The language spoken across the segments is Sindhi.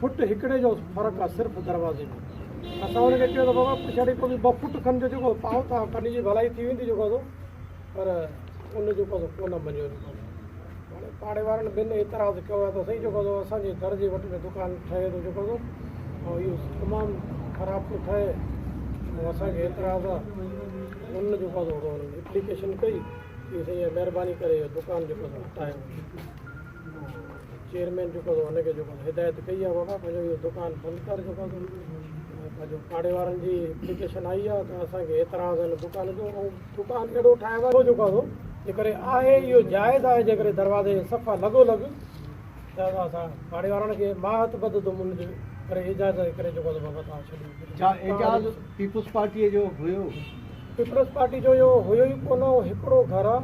فٽ هڪڙي جو فرق آ صرف دروازي ۾ اسان هن کي چيو ته بابا پڇاڙي ڪو به ٻه فٽ کن جو جيڪو پاء ٿا ڪن جي ڀلائي ٿي ويندي جيڪو سو پر ان جيڪو سو ڪونه مڃيو جيڪو سو هاڻي پاڙي وارن بن اعتراض ڪيو آ ته سائين جيڪو سو اسان جي در جي وٽ ۾ دڪان ٺهي ٿو جيڪو سو ۽ اهو تمام خراب ٿو ٺهي ۽ اسان کي اعتراض آ ان جيڪو سو اپليڪيشن ڪئي چي سائين مهرباني ڪري اهو دڪان جيڪو سو هٽايو چيئرمين جيڪو اٿو ان کي جيڪو اٿو هدايت ڪئي آهي بابا پنهنجو اهو دڪان بند ڪر جيڪو اٿو پنهنجو پاڙي وارن جي اپليڪيشن آئي آهي ته اسان کي اعتراض آهن دڪان جو ۽ دڪان اهڙو ٺاهيو آهي جيڪو اٿو جيڪڏهن آهي اهو جائز آهي جيڪڏهن دروازي جي صفا لڳو لڳ ته اسان پاڙي وارن کي ماهت بد دوم ان جي ڪري اعجاز جي ڪري جيڪو اٿو بابا تان ڇڏيو اعجاز پيپلز پارٽي جو هيو پيپلز پارٽي جو اهو هيو ئي ڪونه اهو هڪڙو گهر آ.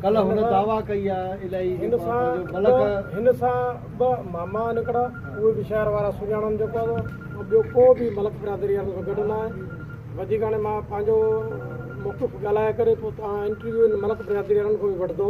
ڪلهه هن دعويٰ ڪئي آ الائي هن سان ٻه هن سان ٻه ماما نڪڙا اهي به شهر وارا سڃاڻن جيڪو آ سو ٻيو ڪو به ملڪ برادري وارن سان گڏ نه آهي وڌيڪ هاڻي مان پنهنجو موقف ڳالهائي ڪري پوء توهان انٽرويو ان ملڪ برادري وارن کان به وٺندو.